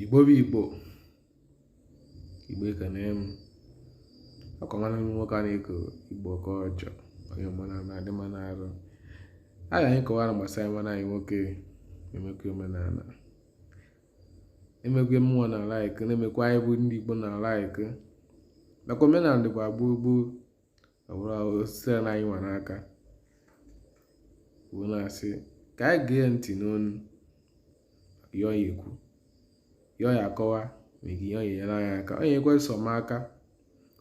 igbo bụ igbo igbo ekene m akọmana m nwoke a na-eko igbo ka ọjọ onye mana na-adị mma n'arụ a ga anyị kọwara gbasara nwanne anyị nwoke emekwa omenala emekwe mmụọ na laik na-emekwa anyị bụ ndị igbo na laik nakwa omenala dịkwa gboo gboo ọ bụrụ osisi a na anyị nwa n'aka wee na-asị ka anyị gee ntị n'ọnụ ihe ọ ya-ekwu ihe ọ ya-akọwa ma ihe ọ ya-enyere anyị aka onye ekwe sọ m aka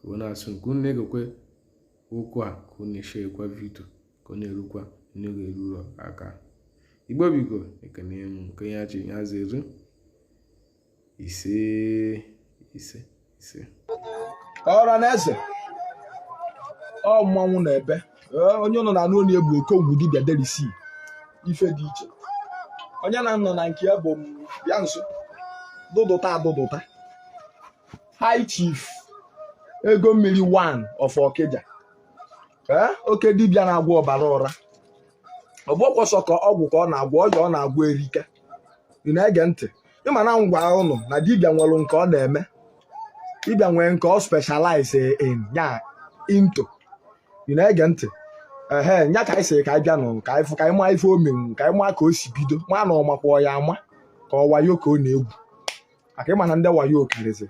wee na-asị ka unu na-egekwe okwu a ka unu na-eshekwa vidio ka ọ na-erukwa unu ga-eru aka igbo biko ekene m nke ya chi ya zere ise ise ise ọra na eze ọ mmanwụ na ebe onye ụnụ na-anụ onu ya bụ okongwu dibịa adreesị ife dị iche onye na nọ na nke ya bụ bịa nso dụdụta adụdụta high chief ego mmiri one of Okija oke dibịa na-agwọ ọbara ụra ọgbọkwọsọ ka ọgwụ ka ọ na-agwọ ọya ọ na-agwọ erike ị na-ege ntị ị ma na m gwa ụnụ na dibịa nwere nke ọ na-eme dibịa nwere nke ọ specialize in ya into ị na-ege ntị ehe nya ka anyị sịrị ka anyị bịa nụ ka anyị fụ ka anyị maa ife o menwu ka anyị maa ka o si bido ma na ọ makwa ya ama ka ọ wayo ka ọ na-egwu maka ị ma na ndị wayo karịzi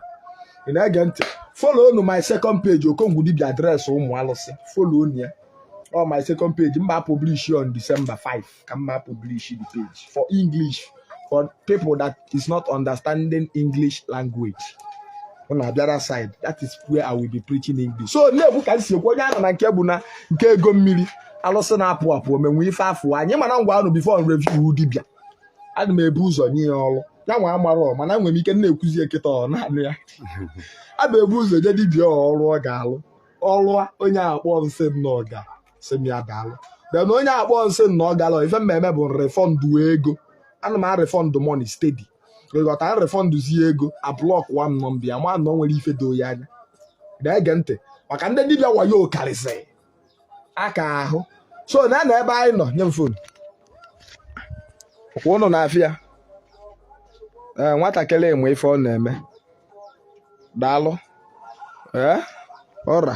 ị na-ege ntị folonụ my second page okongwu dibia adreesị ụmụ alụsị folonụ ya ọ my second page m ga publish on December 5 ka m ga publish the page for English for people that is not understanding English language unu abịa that side that is where I will be preaching English so na-ekwu ka m si ekwu onye a nọ na nke bụ na nke ego mmiri alụsị na-apụ apụ o menwu ife afụ anyị ma na m gwa unu before review dibịa ana m ebu ụzọ nye ya ọrụ ya nwa amarọ mana nwere m ike na-ekwuzi ya kịta ọ naanị ya a bụ ebu ụzọ nye dibịa ọrụ ọ ga-alụ ọrụ onye a kpọọ m sị m na ọ ga sị m ya daalụ then onye a kpọọ m sị na ọ garọ ife m na-eme bụ refund ego ana m arefọndụ money steady ị ghọta arefọndụzie ego ablọk wa m nọmba ya ma na o nwere ife doo ya anya na-ege ntị maka ndị dibịa wayo karịsịrị aka ahụ so na na ebe anyị nọ nye m fon kwa ụnụ na-afụ ya ee nwatakịrị a nwe ife ọ na-eme daalụ ee ọra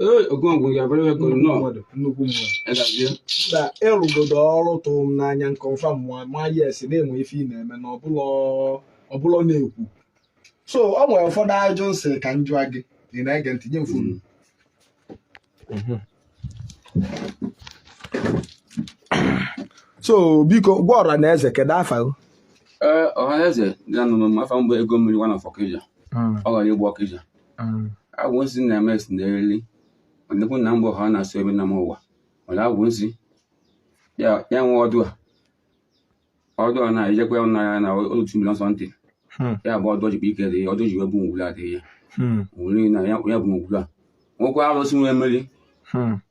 Ee, Okonkwo ga-abara ya koro nnọọ. mmadụ nnukwu mmadụ Ya gazie. na ị rụgodo ọrụ tụrụ m n'anya nke ọfa mụa ma yes na e nwe ife ị na-eme na ọ bụlọ ọ bụlọ na-ekwu so ọ nwere ụfọdụ ajụjụ m sị ka m jụọ gị ị na-ege ntị nye m fonu so biko gwa ọra na eze kedu afa gị Ee, ọhaneze ga-anụ m afa m bụ ego mmiri one of Ọkija. Ọ gara ịgba Ọkija. agwụ nsị na-eme esi n'eriri ọdịkwu na mgbe ha na-asụ ebe na m ụwa nwere agwụ nsị ya ya nwe ọdụ a ọdụ a na-ejekwa ya na ya na otu milion sọntị Hmm. ya bụ ọdụ jikwa ike dị ya ọdụ ji wee bụ ngwuru adịghị ya Hmm. ngwuru na ya ya bụ ngwuru a nwekwa arụsị nwee mmeri Hmm.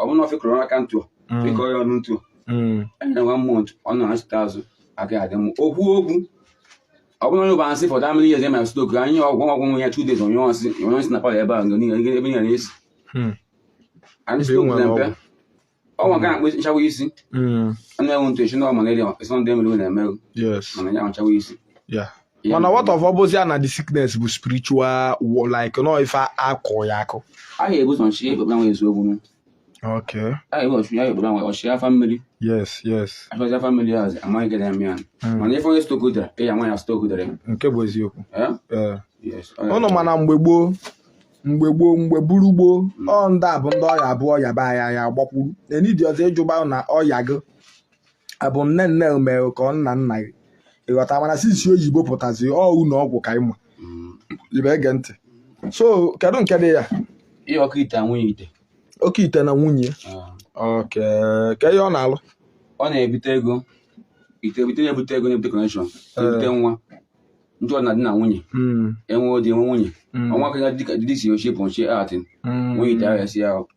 ọ bụrụ na ọ fekọrọ aka ntụ mm. fekọọ ya ọnụ ntụ mm. anya one month ọ nọ na-achịta azụ aka adị m okwu okwu ọ bụrụ na onye ụba nsị fọdụ amịrị ihe ma stroke anyị ọgwụ ọgwụ nwe ya two days onye ọsị onye ọsị na palọ ebe a ebe niile na-esi hmm. anyị stroke na mpe ọnwa ga akpụ nchawa isi hmm. a na-enwe ntụ eche na ọ malaria esọndị emere na-emerụ mana ya nchawa isi mana what of ọ bụzi na the sickness bụ spiritual like na ọ ife a kọ ya akụ a ga-ebu ụzọ nchi ekpekpe nwe eziokwu nụ okay a ga-ebu ọchụ ya ekpekpe nwe ọchị afa mmiri yes yes achọzi afa mmiri ahụ amaghị gịnị na-eme ya hmm. mana ife onye stroke dara ị ya nwa ya stroke dara nke bụ eziokwu eh? Eh. ụnụ ma na mgbe gboo mgbe gboo mgbe bụrụ gboo hmm. ọ ndị a bụ ndị ọya abụọ ọya be anya ya gbakwuru na enidi ọzọ ị jụba na ọya gị a bụ nne nne mere ka ọ nna nna gị ị ghọta mana since oyibo pụtazi ọ ụlọ ọgwụ ka ị ma mm. ibe ege ntị so kedu nke dị ya ihe oke ite nwunye ite oke ite na nwunye ah. oke kee ihe ọ na-alụ ọ na-ebute ego ite ebute na-ebute ego na-ebute connection eh. ebute nwa ndị nọ na di na nwunye hmm. e nwee di e nwee nwunye hmm. ọnwa aka ya dịka dịdị si ochie pọnchie atị hmm. nwunye ite ahụ ya si ahụ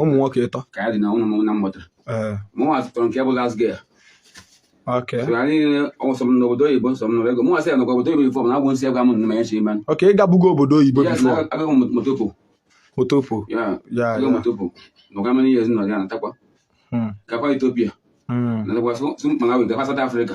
ụmụ nwoke ịtọ ka anyị dị na ụmụ nna m mụta ee mụnwa zụtọrọ nke bụ last girl okay so ya niile ọsọ m n'obodo oyibo sọ m n'obodo ego mụnwa sị ya nọkwa obodo oyibo before m na-agwụ nsị egwa m nne m echi ime okay ị gabugo obodo oyibo ya before na agaghị m motopo motopo ya ya agaghị ya motopo nọga many years nọ ya natakwa Hmm, gakwa Ethiopia hmm. natakwa sụ Malawi gakwa South Africa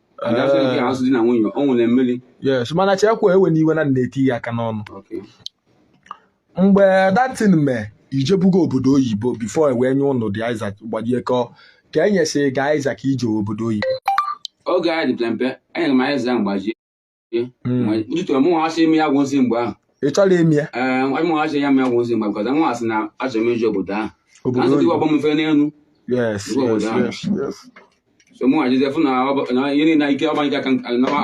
yes mana chekwa ewena iwe na m na-etinye aka n'ọnụ mgbe that time i jebugo obodo oyibo before e wee nye ụnụ the ịsa aka mgbajie ka ọ ka e nyesịrị gị ịsa aka i jee obodo oyibo oge anyị dị mpe enyere m ịsa aka mgbajie ntụtụ hmm. mụnwa achọ ime ya gwụzi mgbe ahụ ị chọrọ ime ya ee eh, mụnwa achọ ya ime ya gwụzi mgbe bikọta nwa asị na achọ m ije obodo ahụ na nsụtụ ọgbọ m mfe n'elu obodo ahụ so mụnwa jezi fụ na ihe niile ike ọgbanye aka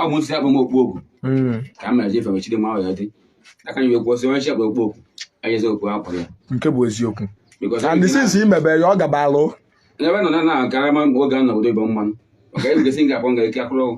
ọ bụ nsị abụ m okpu okwu hmm. ka m mere jefe mechiri ma ọ ya dị aka nyi wekwu ọ sị onye chi akpa okpu okwu anyezi okpu akwa ya nke bụ eziokwu and since imebe ya ọ gabalụ n'ebe nọ na na-agara oge a na obodo ibe mmanụ maka ebugasị ga-akpọ nga ike akụrụ ọgwụ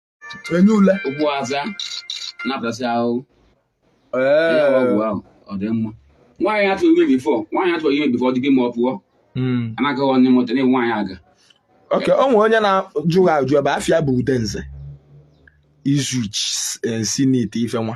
enye ule ụkwụ aza napụtasị ahụhụ ee ọgwụ ahụ ọ dị mma nwaanyị atụ ime before nwaanyị atụ ime before ọ dịbe ma ọ pụọ hmm. anaghị onye mụta na nwaanyị aga okay o nwere onye na-ajụ gị ajụ ebe afa ya bụ Udenze Izu sị na ite ife nwa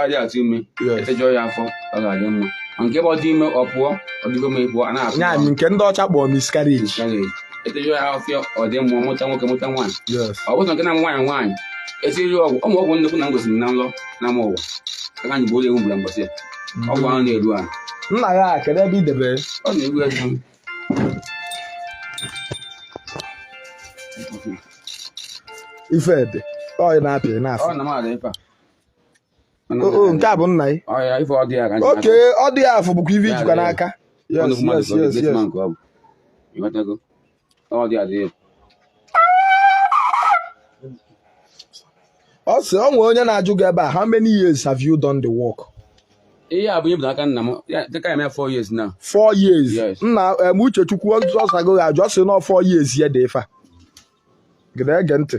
adị atụ ime Yes. etejọọ ya afọ ọ ga-adị mma ma nke bụ ọ dị ime ọ pụọ ọ dịgo ma ọ pụọ a na-atụ ya bụ nke ndị ọcha kpọrọ miscarriage miscarriage. etejọọ ya afọ ọ dị mma mụta nwoke mụta nwaanyị yes ọ bụrụ na nke na nwaanyị nwaanyị etiri ọgwụ ụmụ ọgwụ nnekwu na ngosiri na nlọ na ama ụwa aka anyị bụ ụlọ ewu mgbara mbọsị ya ọgwụ ahụ na-eru ahụ nna ya a, kedu ebe i debere ọ na-eru ego ife ede ọ ị na-apị ị na-afụ ọ na m ada ife a nke a bụ nna gị okay ọ dị ya afọ bụkwa ife i jikwa n'aka yes yes yes yes ọ sị ọ nwee onye na-ajụ gị ebe a how many years have you done the work ihe a bụ ihe bụ n'aka nna m dịka ya mee 4 years now 4 years nna m Uchechukwu ọ zago gị ajụ ọ sị na 4 years ya dị ife a gịda ege ntị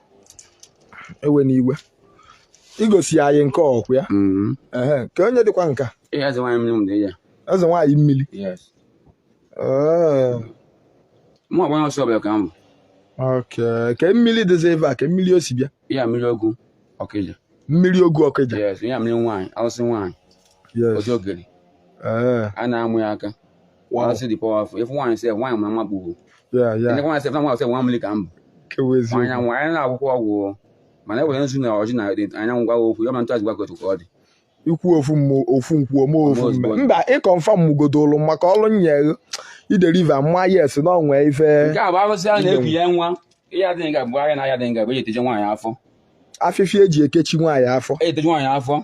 ewe n'iwe igosi ya anyị nke ọkwa ya mm-hmm. ka onye dịkwa nka eze nwaanyị mmiri mụ agbanye ọsọ ọbịa ka m bụ ke mmiri dịzi ebe a ke mmiri o si bịa ya mmiri ogwu Ọkịja mmiri ogwu Ọkịja ya mmiri nwaanyị arụsị nwaanyị ọzọ ogere a na-amụ ya aka Wow. Arụsị dị powerful ife nwaanyị sef nwaanyị ma bu. Yeah, yeah. Na nwaanyị sef nwaanyị sef nwa mmiri ka m. Kewezi. Anya nwa anya na akwụkwọ ọgwụ. Mana ewere nzu na ọjị na anyanwụ gwa okwu ya ma ntụ azụgwa kotu ka ọ dị. Ikwu ofu m ofu nkwuo m ofu mme. Mba ị confirm m godolu maka ọrụ nyere ị deliver mma yes na o nwe ife. Nke a bụ arụsị a na-eku ya nwa. Ihe a dị nga bụ ahịa na ahịa dị nga bụ eji eteje nwaanyị afọ. Afịfịa eji ekechi nwaanyị afọ. Eji eteje nwaanyị afọ.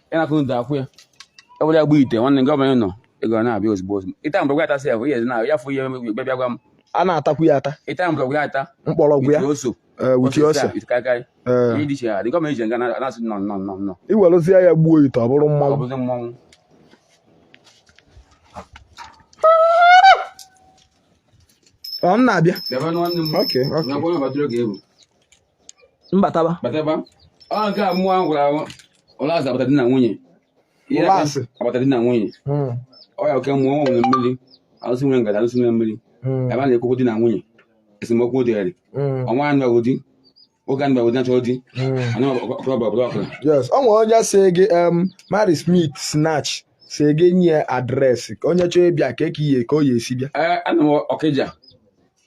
ịnakụ ndo akwụ ya ewere ya gbuo ite nwanne nke ọbụla nọ ego na-abịa ozugbo ozugbo ịta mgbọrọgwụ ata sị ya bụ ihe na ya fụ ihe mgbe bịa gwa m a na-atakwu ya ata ịta mgbọrọgwụ ya ata mkpọrọgwụ ya oso wuchi ose karịkarị ihe dị iche ya dị gọọmenti ji nga na-asị no no no no iwerụzie ya gbuo ite ọ bụrụ mmanwụ ọ bụzi mmanwụ ọ m na-abịa Okay, okay. mbataba bataba ọ nke a mmụọ ahụ gwara ahụ ụlọ azụ agbata di na nwunye Ihe Ụlọ asị. agbata di na nwunye Mm, ọ ya oke mmụọ ọ nwere mmiri alụsị nwere ngada alụsị nwere mmiri mm, ebe a na-ekwukwu di na nwunye esemokwu dịgharị mm, ọnwa anụ ọgụ di oge anụ ọgụ di na-achọ di mm. anụ ọkụrụ ọbụla ọbụla ọkụrụ yes ọ nwere onye sị gị em mary smith snatch sị gị nye adreesị ka onye chọọ ịbịa ka eke ihe ka ọ ya esi bịa ee anọ m ọkịja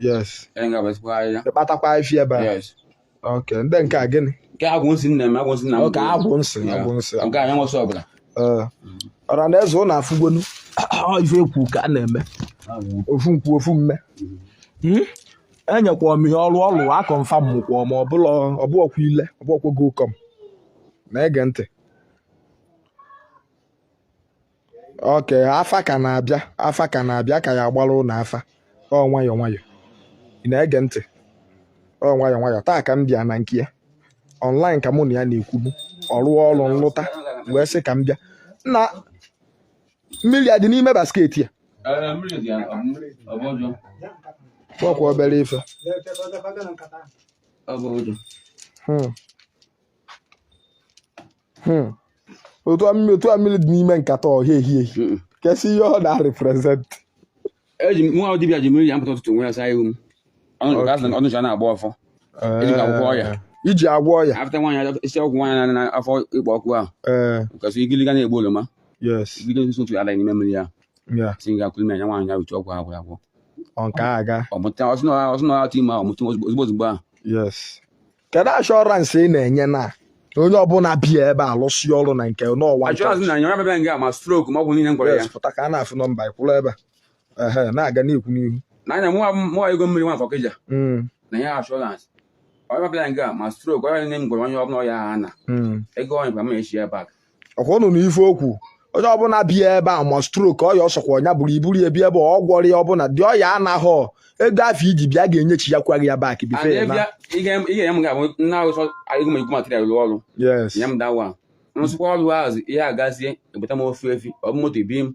yes ebe nga basikwa ahịhịa ịkpatakwa ife ebe a yes ok ndị nke a gịnị nke agwụ nsị nna m agwụ nsị nna m ok agwụ nsị Yeah. agwụ nsị nke anyị nwesị ọbụla Ee. ọra na eze ụnụ afụgonụ Ọ ife ekwu ka a na-eme ofu nkwu ofu mme Hmm? enyekwa m ihe ọrụ ọrụ a kọnfam mụkwa ma ọ bụkwa ile ọ bụkwa gokọm na-ege ntị ok afa ka na-abịa afa ka na-abịa ka ya agbara ụnụ afa ọ nwayọ nwayọ ị na-ege ntị ọ nwayọ nwayọ taa ka m bịa na nke ya online ka mụ na ya na-ekwubu ọ rụọ ọrụ nlụta wee sị ka m bịa na mmiri a dị n'ime basket a ọkwa obere ife Hmm. hmm. otu a mmiri dị n'ime nkata ọhịa ehi ehi hmm. kezi ihe ọ na-represent eji nwa dibịa ji mmiri ya m pụta ụtụtụ m we ya saa ihu m ọnụcha na-agọ ọfọ eji eh. agwọ ọya iji agwọ ọya afta nwaanyị isi ọgwụ nwaanyị na afọ ịkpọ ọkụ ahụ eh. kasị igiliga na-egbu oroma igiliga nso otu ala n'ime mmiri ya si ga akụli mmiri ya nwaanyị ya uche ọgwụ agwụ agwụ nke a aga ọmụta ọsụ na ọtụ ime ahụ ọ mụta ozugbo ozugbo ahụ kedu ashọransị ị na-enye na onye ọbụla bịa ebe a lụsịa ọrụ na nke nwa pụta ka a na-afụ nọmba kwụrụ ebe ehe na-aga n'ikwu n'ihu n'anya mụwa ego mmiri nwafọ ọkịja hmm. na ya ashọransị onye ọbụla nga ma strok onye niile m gwọrọ onye ọbụla ọya ha na hmm. ego onye kwa m echi ya bak ọkwa ụnụ nụ ife o kwu onye ọbụla bịa ebe a ma strok ọya ọ sọkwa nya bụrụ i buru ya bịa ebe ọ gwọrọ ya ọbụla dị ọya anaghọ ego afụ i ji bịa ga-enyechi ya kwa gị ya bak bife ya na yes ihe agazie ebute m ofu efi ọ bụ moto ebi m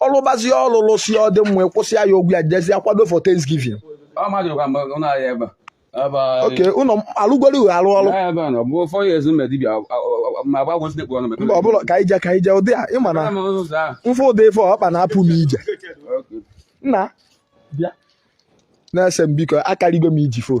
ọ lụbazie ọlụ lụsịa ọ dị mma kwụsịa ya ụgwọ ya jezie akwado for Thanksgiving ok ụnụ alụgoro uhe arụ ọrụ mba ọbụla ka ije ka ije ụdị a ịma na mfe ụdị ife ọkpa na-apụ m ije nna na-ese m biko akarịgo m iji fon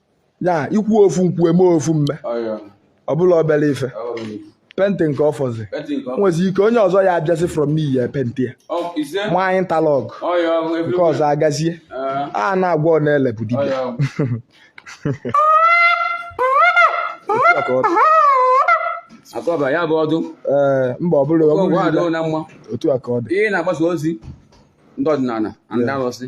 ya ekwu ofu nkwu eme ofu mme ọ bụrọ obele ife penti nke ọfọzi nwezi ike onye ọzọ ya abịazi from me ya penti ya nwaanyị talọg nke ọzọ agazie a na-agwọ ọ na-ele bụ dibịa akọba ya bụ ọdụ ee mba ọ bụla otu a ka ọ dị ihe na-agbasa ozi ndị ọdịnala na ndị arụsị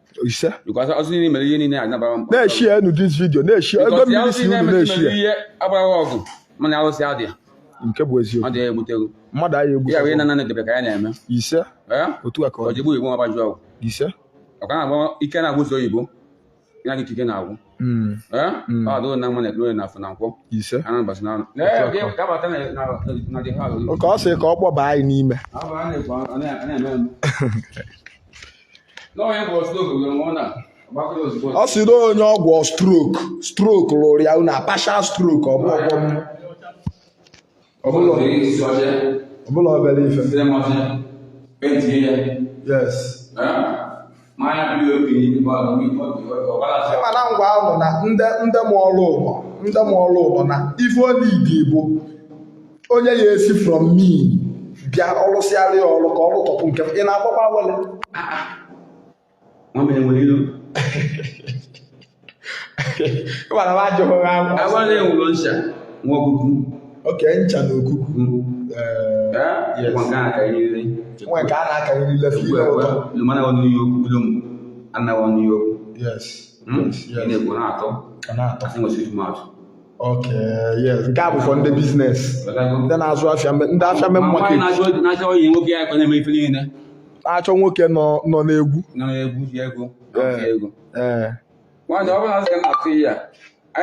ise because ọsị niile mere ihe niile a nabara mkpa na-eshi ya enu this video na-eshi ya ego because ya mmiri ọsị si niile unu na-eshi mere ya ihe agbara ọgụ mana arụsị adị ya nke bụ ọ eziokwu dị ya egbutego mmadụ anyị egbu ya wee na nanị debe ka ya na-eme ise ee otu a ka ọ ọ dị jegbu igbo ọgbaju ọgwụ ise ọ ka na-agba ike na-agwụ ụzọ oyibo ya gị ike na-agwụ Mm, ee Mm. ọ dịrị na mma na eke na oye na afọ na nkwọ ise a n'ụbọsị n'anọ ka ọ sị ka ọ kpọba anyị n'ime na-eme ọ sị na onye ọgwọ stroke stroke lụrụ ya na partial stroke ọ bụ ọ bụrọ obele ife yes ị ma na ngwa ahụ na ndị mụọlụ ụlọ ndị mụọlụ ụlọ na ife olidi bụ onye ya esi from me bịa ọ lụsịara ya ọrụ ka ọrụ tọpụ nke ị na-agbakwa awele nwa m enwere ilu ịgbara m ajụghị ha awele enwere ncha nwa ọkụkụ oke ncha na okuku nwa nke a na-akarịrị nwa nke a na-akarịrị lefe ugbu a ụtọ lumana wa new york ulum anna wa new york yes ị na-ekwu na-atọ ọ na-atọ asị nwesịrị atụ nke a bụkwa ndị business ndị na-azụ afịa ndị afịa main market na-achọ nwoke nọ n'egwu